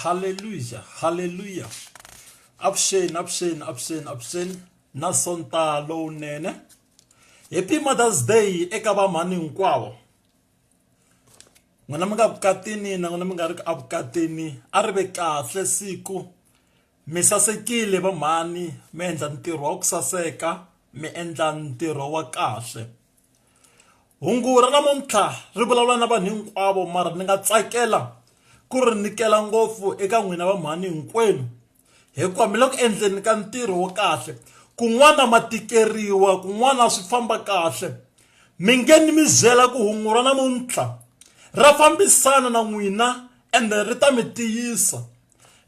haleluya haleluya avuxeni avuxeni avuxeni avuxeni na sonta lowunene happy mothers day eka vamhani hinkwavo n'wina mi nga vukatini na n'wina mi nga ri ku avukatini a ri ve kahle siku mi sasekile vamhani mi endla ntirho wa ku saseka mi endla ntirho wa kahle hungu ra namuntlha ri vulavula na vanhu hinkwavo mara ni nga tsakela ku ri nyikela ngopfu eka n'wina va mhani hinkwenu hikuva mi le ku endleni ka ntirho wa kahle kun'wana ma tikeriwa kun'wana swi famba kahle mi nge ni mi byela ku hungu ra namuntlha ra fambisana na n'wina ende ri ta mi tiyisa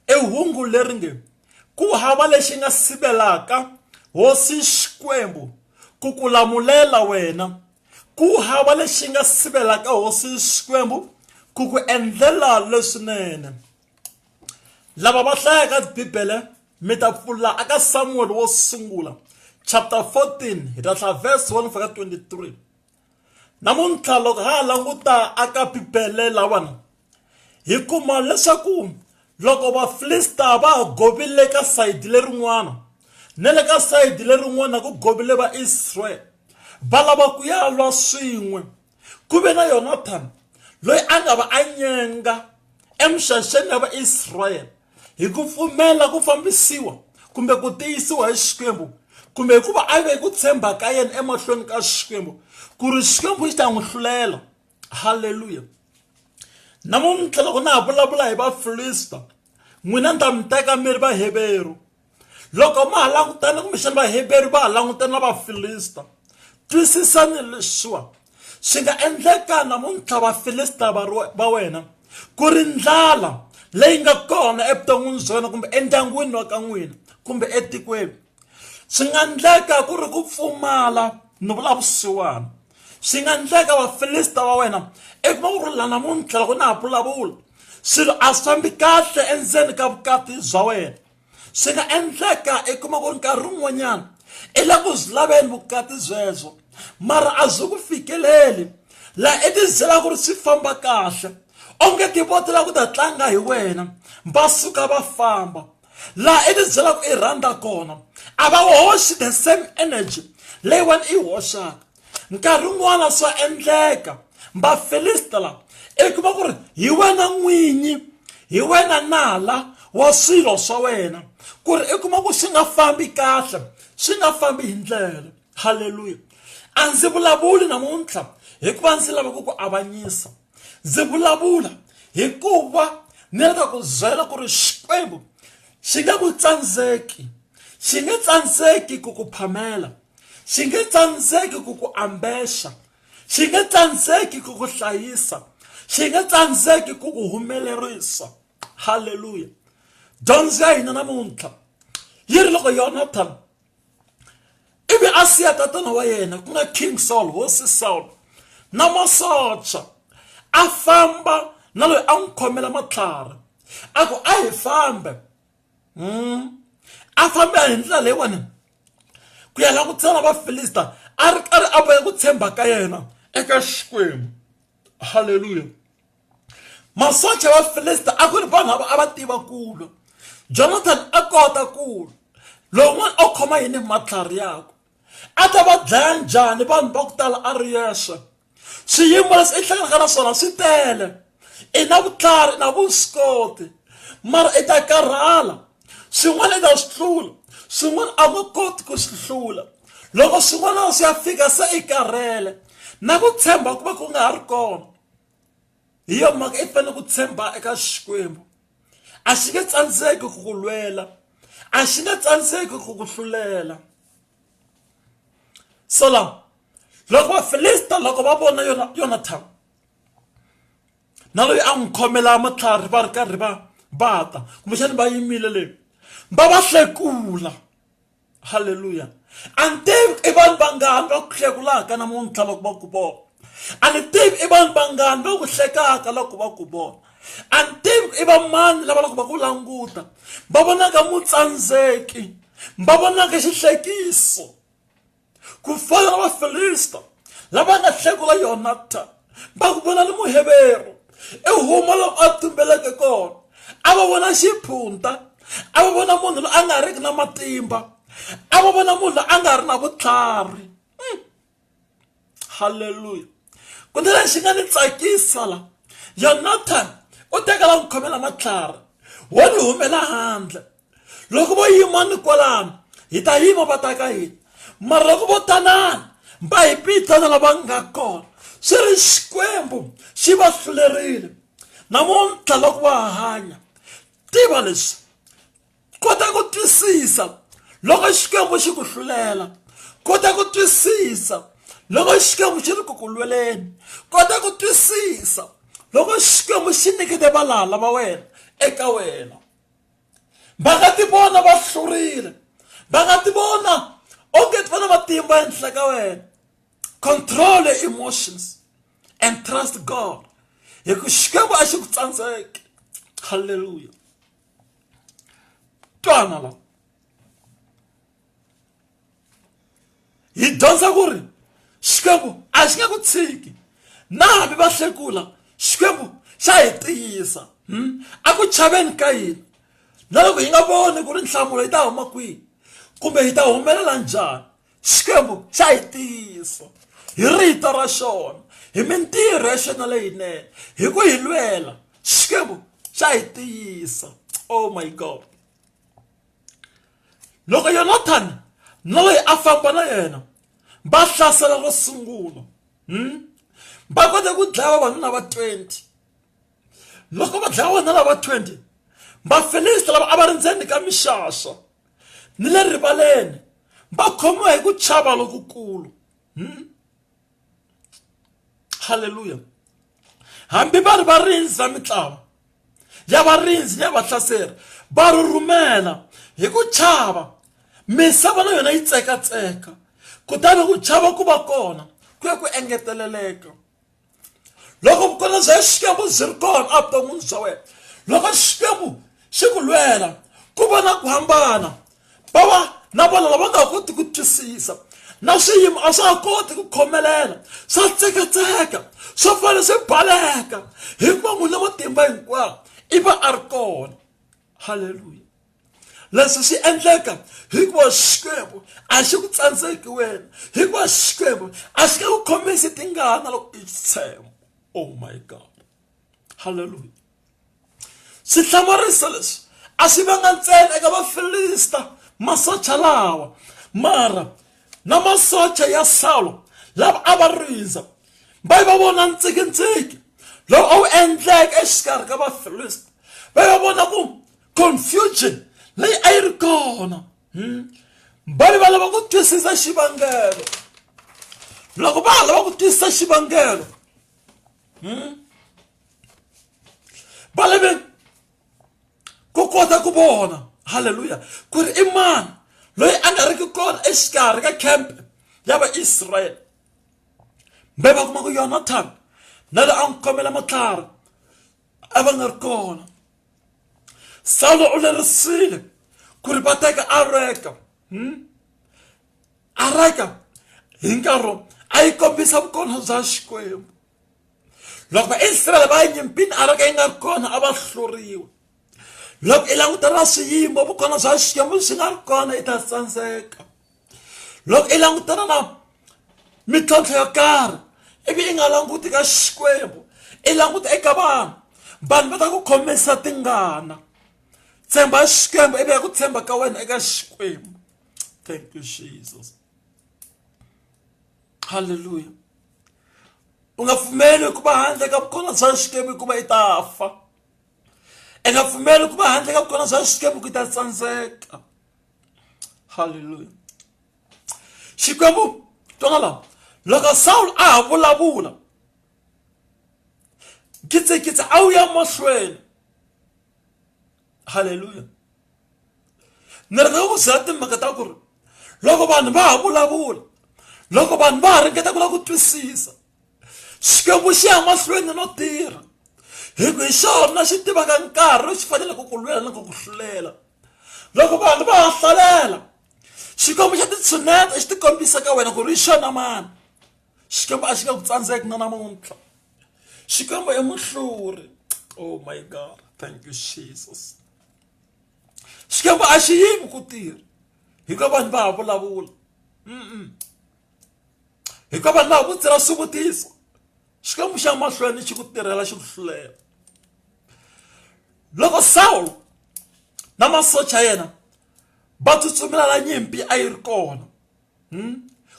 i hungu leri nge ku hava lexi nga sivelaka hosi xikwembu ku ku lamulela wena ku hava lexi nga sivelaka hosi xikwembu ku ku endlela leswinene lava va hlayaka bibele mi ta pfula aka samuweli wo sungula chapter 14 hi ta hlaya verse 1 fika 23 namuntlha loko ha ha languta aka bibele lawana hi kuma leswaku loko vafilista va ha govile ka sayiti lerin'wana na le ka sayiti lerin'wana ku govile vaisraele va lava ku ya lwa swin'we ku ve na yonathani loyi a nga va a nyenga emuxaxeni ya vaisraele hi ku pfumela ku fambisiwa kumbe ku tiyisiwa hi xikwembu kumbe hikuva a ve ku tshemba ka yena emahlweni ka xikwembu ku ri xikwembu xi ta n'wi hlulela halleluya namuntlha loko na ha vulavula hi vafilista n'wina ni ta mi teka mi ri vaheveru loko ma ha langutana kumbexana vaheberu va ha langutana na vafilista twisisani leswiwa swi nga endleka namuntlha vafilista va wena ku ri ndlala leyi nga kona evuton'wini bya wena kumbe endyangwini wa ka n'wina kumbe etikweni swi nga endleka ku ri ku pfumala ni vula vusiwana swi nga endleka vafilista va wena i kuma ku ri la namuntlha loko na ha vulavula swilo a swi fambi kahle endzeni ka vukati bya wena swi nga endleka i kuma ku ri nkarhi wun'wanyana i la ku byi laveni vukati byebyo mara a byi ku fikeleli laha i tibyela ku ri swi famba kahle onge tivotela ku ta tlanga hi wena va suka va famba laha i tibyela ku i rhandza kona a va hoxi the same energy leyiwani i hoxaka nkarhi wun'wana swa endleka vafilista lava i kuma ku ri hi wena n'winyi hi wena nala wa swilo swa wena ku ri i kuma ku swi nga fambi kahle swi nga fambi hi ndlela halleluya a ndzi vulavuli namuntlha hikuva ndzi lava ku ku avanyisa ndzi vulavula hikuva ni lava ku byela ku ri xikwembu xi nga ku tsandzeki xi nge tsandzeki ku ku phamela xi nge tsandzeki ku ku ambexa xi nge tsandzeki ku ku hlayisa xi nge tsandzeki ku ku humelerisa halleluya dyondzo ya hina namuntlha yi ri loko yonathan ivi a siya tatana wa yena ku nga king saul hosi saul na masocha a famba na loyi a n'wi khomela matlhari a ku a hi fambe a famba hi ndlela leyiwani ku ya lava ku tshama vafilista a ri karhi a bohe ku tshemba ka yena eka xikwembu halleluya masocha ya vafilista a ku ri vanhu lava a va tiva kulo jonathan a kota kulo lowun'wana a khoma yini matlhari yakwe a ta va dlaya njhani vanhu va ku tala a ri yexe swiyimo leswi i hlanganaka na swona swi tele i na vutlhari i na vuswikoti mara i ta karhala swin'wana i ta swi tlula swin'wana a va koti ku swi hlula loko swin'wana swi ya fika se i karhele na ku tshemba ku va ku nga ha ri kona hi yona mhaka i fanele ku tshemba eka xikwembu a xi nge tsandzeki ku ku lwela a xi nge tsandzeki ku ku hlulela so la loko vafilista loko va vona yona yonathan na loyi a n'wi khomela matlhari va ri karhi va bata kumbexani va yimile le va va hlekula halleluya a ni tivi i vanhu vangani va ku hlekulaka namuntlha loko va ku vona a ni tivi i vanhu vangani va ku hlekaka loko va ku vona a ni tivi i va mani lava loko va ku languta va vonaka mutsandzeki va vonaka xihlekiso ku fana na vafilista lava nga hlekula yonatani va ku vona ni muheveru ehuma loko a tumbeleke kona a va vona xiphunta a va vona munhu loyi a nga riki na matimba a va vona munhu loyi a nga ri na vutlhari hmm. halleluya ku ni lexi nga ni tsakisa la yonatan u tekela n'wi khomela matlhari wo ni humela handle loko vo yima ni kwalano hi ta yima va ta ka hina mara loko vo tanana va hi pitana lava nga kona swi ri xikwembu xi va hlulerile namuntlha loko va hanya tiva leswi kota ku twisisa loko xikwembu xi ku hlulela kota ku twisisa loko xikwembu xi ri ku ku lweleni kota ku twisisa loko xikwembu xi nyikete valala va wena eka wena va nga ti vona va hlurile va nga ti vona onge ti va na matimba ehenhla ka wena control your emotions and trust god hi ku xikwembu a xi ku tsandzeki halleluya twana la hi dyondza ku ri xikwembu a xi nge ku tshiki na hambi va hlekula xikwembu xa hi tiyisa hmm? a ku chaveni ka yini na loko hi nga voni ku ri nhlamulo yi ta huma kwihi kumbe hi ta humelela njhani xikwembu xa hi tiyisa hi rito ra xona hi mintirho ya xona leyinene hi ku hi lwela xikwembu xa hi tiyisa oh my god loko yonathani na loyi a famba na yena va hlasela ro sungula hmm? va kote ku dlaya vavanuna va 20 loko va dlaya vavanuna lava 20 vafilista lava a va ri ndzeni ka mixaxa ni le rivaleni va khomiwa hi ku chava lokukulu hmm? halleluya hambi va ri varindzi va mitlawa ya varindzi ni ya vahlaseri va ri rhumela hi ku chava misava na yona yi tsekatseka kutani ku chava ku va kona ku ya ku engeteleleka loko vukorhokeri bya xikwembu byi ri kona evuton'wini bya wena loko xikwembu xi ku lwela ku va na ku hambana va va na vona lava nga ha koti ku twisisa na swiyimo a swa ha koti ku khomelela swa tsekatseka swo fana swi baleka hikuva n'wina matimba hinkwawo i va a ri kona halleluya leswi swi endleka hikuva xikwembu a xi ku tsandzeki wena hikuva xikwembu a xi ka ku khomisi tingana loko i tshemba oh my god halleluya swi hlamarisa leswi a swi vanga ntsena eka vafilista masocha lawa mara na masocha ya salo lava a va rindza va yi va vona ntsikitsiki lowu a wu endleke exikarhi ka vafilista va yi va vona ku confusion leyi a yi ri kona hmm? va yi va lava ku twisisa xivangelo loko va ha lava ku twisisa xivangelo hmm? va lave ku kota ku vona halleluya ku ri i mani loyi a nga riki kona exikarhi ka campe ya vaisrayele mbe va kuma ku yonatan na loyi a n'wi khomela matlhari a va nga ri kona sawulo u lerisile ku ri va teka areka hmm? areka hi nkarhi a yi kombisa vukona bya xikwembu loko vaisrayele va ya nyimpini a ri ka yi nga ri kona a va hluriwa loko i langutela swiyimo vukona bya xikwembu swi nga ri kona i ta tsandzeka loko i langutana na mintlhontlho yo karhi ivi i nga languti ka xikwembu i languta eka vanhu vanhu va ta ku khomisa tingana tshemba xikwembu ivi ya ku tshemba ka wena eka xikwembu thank you jesus halleluya u nga pfumeli ku va handle ka vukhona bya xikwembu hikuva i ta fa i nga pfumeli ku va handle ka vukhona bya xikwembu ku ta tsandzeka halleluya xikwembu twana lawa loko sawulo a ha vulavula kitsikitsi a wu ya mahlweni haleluya ni rhandza ku timhaka ta ku ri loko vanhu va ha vulavula loko vanhu va ha ringeta ku lava ku twisisa xikwembu xi ya mahlweni no tirha hi ku hi xona xi tivaka nkarhi lowu xi faneleke ku lwela na ku ku hlulela loko vanhu va ha hlalela xikwembu xa titshuneta xi ti kombisa ka wena ku ri hi xona mani xikwembu a xi nga ku tsandzeki na namuntlha xikwembu i muhluri oh my god thank you jesus xikwembu a xi yimi ku tirha hikuva vanhu va ha vulavula hikuva vanhu va ha vutsira swivutiso xikwembu xa mahlweni xi ku tirhela xi ku hlulela loko sawulo na masocha yena va tsutsumela la nyimpi a yi ri kona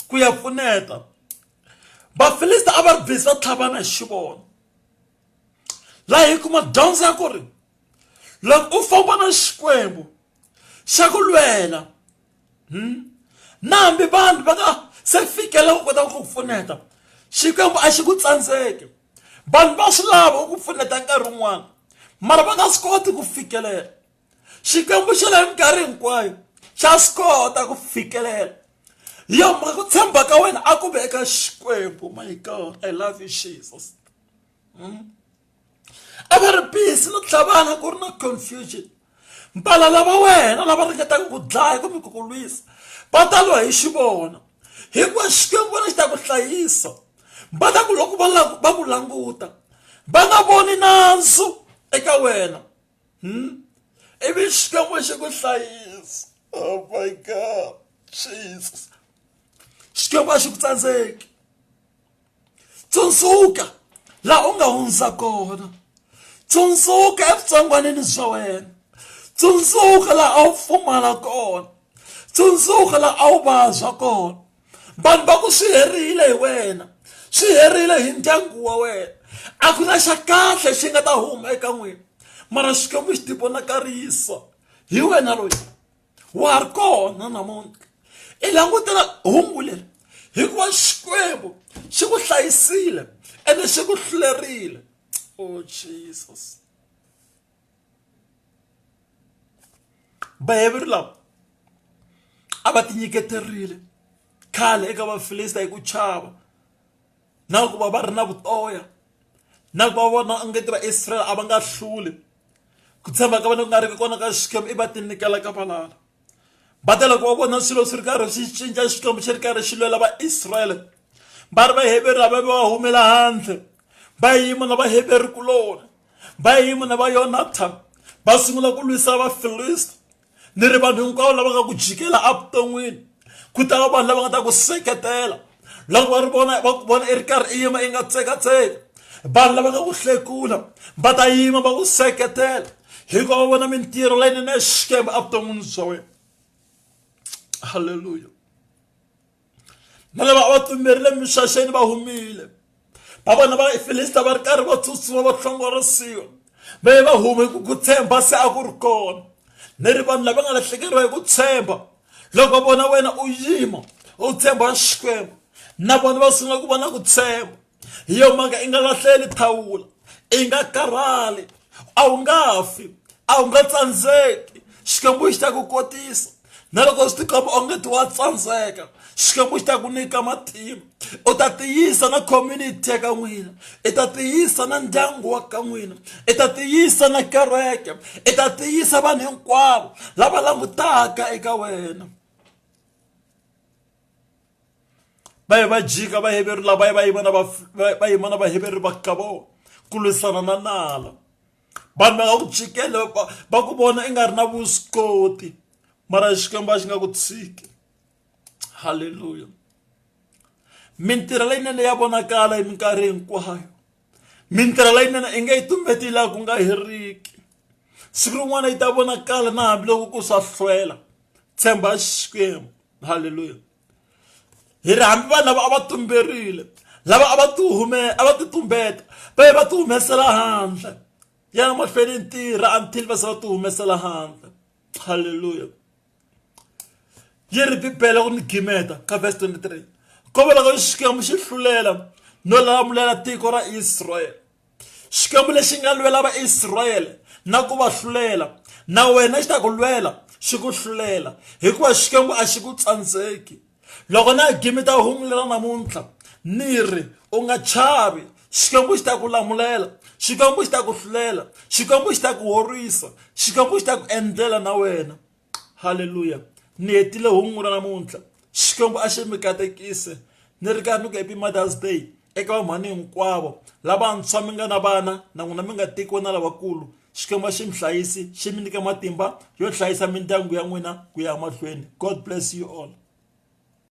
ku ya pfuneta vafilista a va ri busy va tlhavana hi xivono laha hi kuma dyondzo ya ku ri loko u famba na xikwembu xa ku lwela hmm? na hambi vanhu va nga se fikela ku kota ku pfuneta xikwembu a xi ku tsandzeki vanhu va swi lava ku pfuneta nkarhi wun'wana mara va nga swi koti ku fikelela xikwembu xa la minkarhi hinkwayo xa swi kota ku fikelela hi yo mhaka ku tshemba ka wena a ku ve eka xikwembu my god i love you jesus hmm? a va ri busy no tlhavana ku ri na confusion mpala lava wena lava ringetaka ku dlaya kumbe ku ku lwisa va ta lwa hi xi vona hikuva xikwembu wena xi ta ku hlayisa va ta ku loko va va ku languta va nga voni nandzu eka wena hmm? ivi xikwembu xi ku hlayisa oh my god jesus xikwembu a xi ku tsandzeki tsundzuka laha u nga hundza kona tsundzuka evutsongwanini bya wena tsundzuka laha a wu pfumala kona tsundzuka laha a wu vabya kona vanhu va ku swi herile hi wena swi herile hi ndyangu wa wena a ku na xa kahle xi nga ta huma eka n'wina mara xikwembu xi tivonakarisa hi wena loyi wa ha ri kona namuntlha i langutela hungu leri hikuva xikwembu xi ku hlayisile ene xi ku hlulerile o oh, jesus vayeveri lava a va tinyiketerile khale eka vafilista hi ku chava na ku va va ri na vutoya na ku va vona onge ti vaisraele a va nga hluli ku tshemba ka vona ku nga ri ki kona ka xikwembu i va tinyikela ka valala va tela ku va vona swilo swi ri karhi swi cinca xikwembu xi ri karhi xi lwela vaisrayele va ri vaheveru ava va humela handle va yima na vaheveru kuloni va yima na va yonatan va sungula ku lwisa vafilisti ni ri vanhu hinkwavo lava nga ku jikela evuton'wini ku ta va vanhu lava nga ta ku seketela loko va ri vona va ku vona i ri karhi i yima i nga tsekatseki vanhu lava nga ku hlekula va ta yima va ku seketela hikuva va vona mintirho leyinene ya xikwembu evuton'wini bya wena halleluya na lava a va tlumerile mixaxeni va humile va vona va ifilista va ri karhi va tsutsuma va hlongorisiwa va ye va hume ku ku tshemba se a ku ri kona ni ri vanhu lava nga lahlekeriwa hi ku tshemba loko vona wena u yima u tshemba xikwembu na vona va sungula ku vona ku tshemba hi yo mhaka i nga lahleli thawula i nga karhali a wu nga fi a wu nga tsandzeki xikwembu xi ta ku kotisa na loko swi tikomba onge ti wa tsandzeka xikwembu xi ta ku nyika matimba u ta tiyisa na community ya ka n'wina i ta tiyisa na ndyangu wa ka n'wina i ta tiyisa na kereke i ta tiyisa vanhu hinkwavo lava langutaka eka wena baye ba jika baheveru lava ye va yimana va yimana vaheveru va ka vona ku lwisana na nala vanhu va nga ku jikele va ku vona i nga ri na vuswikoti mara xikwembu a xi nga ku tshiki halleluya mintirho leyinene ya vonakala hi minkarhi hinkwayo mintirho leyinene i nge yi tumbeti laha ku nga heriki siku rin'wana yi ta vonakala na hambiloko ku swa hlwela tshemba xikwembu halleluya hi ri hambi vanhu lava a va tumberile lava a va ti hume a va ti tumbeta va ye va ti humesela handle ya na mahlweni ntirha until va se va ti humesela handle halleluya yi ri bibele ku ni gimeta ka verse 23 ko va loko xikwembu xi hlulela no lalamulela tiko ra israyele xikwembu lexi nga lwela vaisrayele na ku va hlulela na wena xi ta ku lwela xi ku hlulela hikuva xikwembu a xi ku tsandzeki loko na gimi ta humulela namuntlha ni ri u nga chavi xikwembu xi ta ku lamulela xikwembu xi ta ku hlulela xikwembu xi ta ku horisa xikwembu xi ta ku endlela na wena halleluya ni hetile hungu ra namuntlha xikwembu a xi mi katekise ni ri karhi ni ku happy mothers day eka vamhani hinkwavo lavantshwa mi nga na vana na n'wina mi nga tekiwa na lavakulu xikwembu a xi mi hlayisi xi mi nyika matimba yo hlayisa mindyangu ya n'wina ku ya mahlweni god bless you all